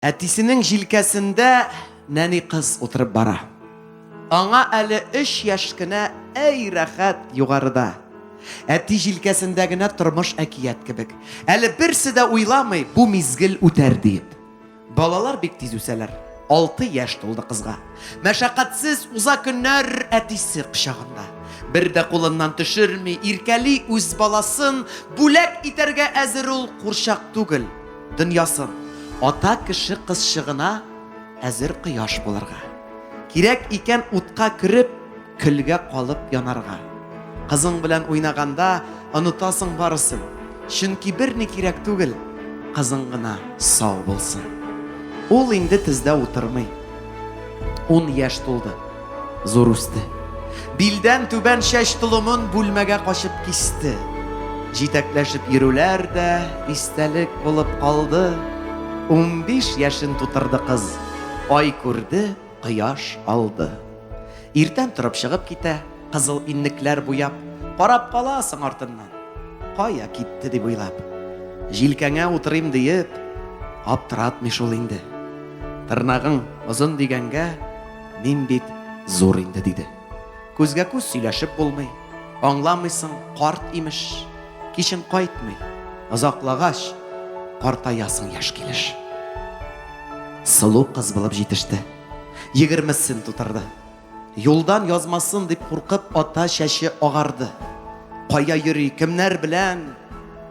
Әтисенең җилкәсендә нәни кыз утырып бара. Аңа әле өч яшь кенә, әй рәхәт, югарыда. Әти җилкәсендә генә тормыш әкият кебек. Әле берсе дә уйламый, бу мизгел үтәр диеп. Балалар бик тиз үсәләр. Алты яшь тулды кызга. Мәшәкатьсез уза көннәр әтисе кочагында. Бер дә кулыннан төшерми, иркәли үз баласын, бүләк итәргә әзер ул, курчак түгел. Дөньясын. Ата кеше кызчыгына әзер кояш булырга. Кирәк икән утка кереп, көлгә калып янарга. Кызың белән уйнаганда онытасың барысын, чөнки берни кирәк түгел, кызың гына сау булсын. Ул инде тездә утырмый. Ун яшь тулды. Зур үсте. Билдән түбән чәч толымын бүлмәгә качып кисте. Җитәкләшеп йөрүләр дә истәлек булып калды. Унбиш яшен тутырды кыз. Ай күрде, кояш алды. Иртән торып чыгып китә, кызыл иннекләр буяп, карап каласың артыннан. Кая китте дип уйлап. Җилкәңә утырыйм диеп, аптыратмый шул инде. Тырнагың озын дигәнгә, Мин бит зур инде, диде. Күзгә-күз сөйләшеп булмый. Аңламыйсың, карт, имеш. Кичен кайтмый. Озаклагач, картаясың яшь килеш. Сылу кыз булып җитеште. Егермесен тутырды. Юлдан язмасын дип куркып, ата чәче агарды. Кая йөри, кемнәр белән?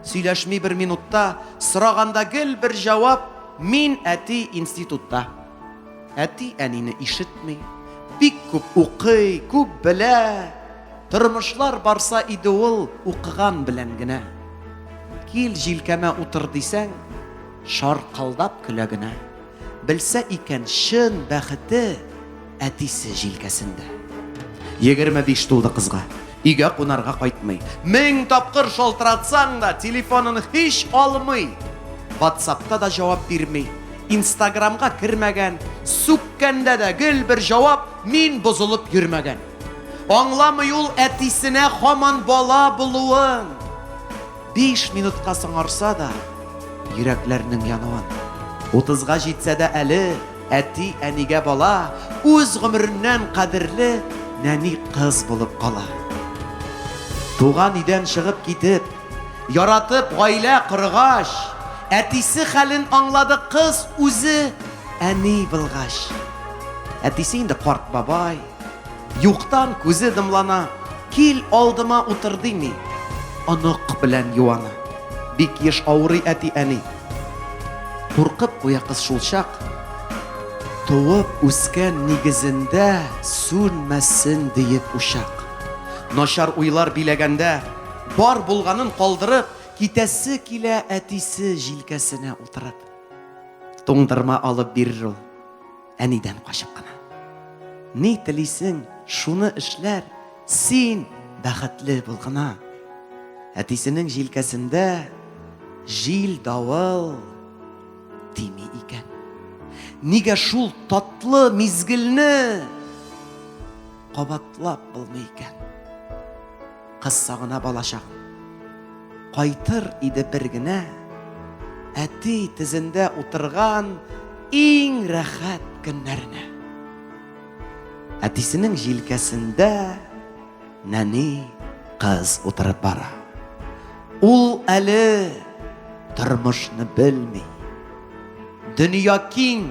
Сөйләшми бер минутта, сораганда гел бер җавап, мин әти институтта. Әти әнине ишетми, бик күп укый, күп белә. Тормышлар барса иде ул укыган белән генә. Кил җилкәмә утыр дисәң, шаркылдап көлә генә. Белсә икән чын бәхете әтисе җилкәсендә. Егерме биш тулды кызга. Өйгә кунарга кайтмый. Мең тапкыр шалтыратсаң да, телефонын һич алмый. Ватсапка да җавап бирми. Инстаграмга кермәгән. Сүккәндә дә гел бер җавап, мин бозылып йөрмәгән. Аңламый ул әтисенә һаман бала булуын. Биш минутка соңарса да, йөрәкләрнең януын. Утызга җитсә дә әле. Әти-әнигә бала үз гомереннән кадерле нәни кыз булып кала. Туган өйдән чыгып китеп, яратып гаилә коргач, әтисе хәлен аңлады кыз үзе әни булгач. Әтисе инде карт бабай, юктан күзе дымлана, кил алдыма утыр дими, онык белән юана. Бик еш авырый әти-әни. Куркып куя кыз шулчак. Туып үскән нигезендә сүнмәсен диеп учак. Начар уйлар биләгәндә, бар булганын калдырып, китәсе килә әтисе җилкәсенә утырып. Туңдырма алып бирер ул. Әнидән качып кына. Ни телисең, шуны эшләр, син бәхетле бул гына. Әтисенең җилкәсендә җил давыл тими икән. Нигә шул татлы мизгелне кабатлап булмый икән? Кыз сагына балачак. Кайтыр иде бер генә, әти тезендә утырган иң рәхәт көннәренә. Әтисенең җилкәсендә нәни кыз утырып бара. Ул әле тормышны белми. Дөнья киң,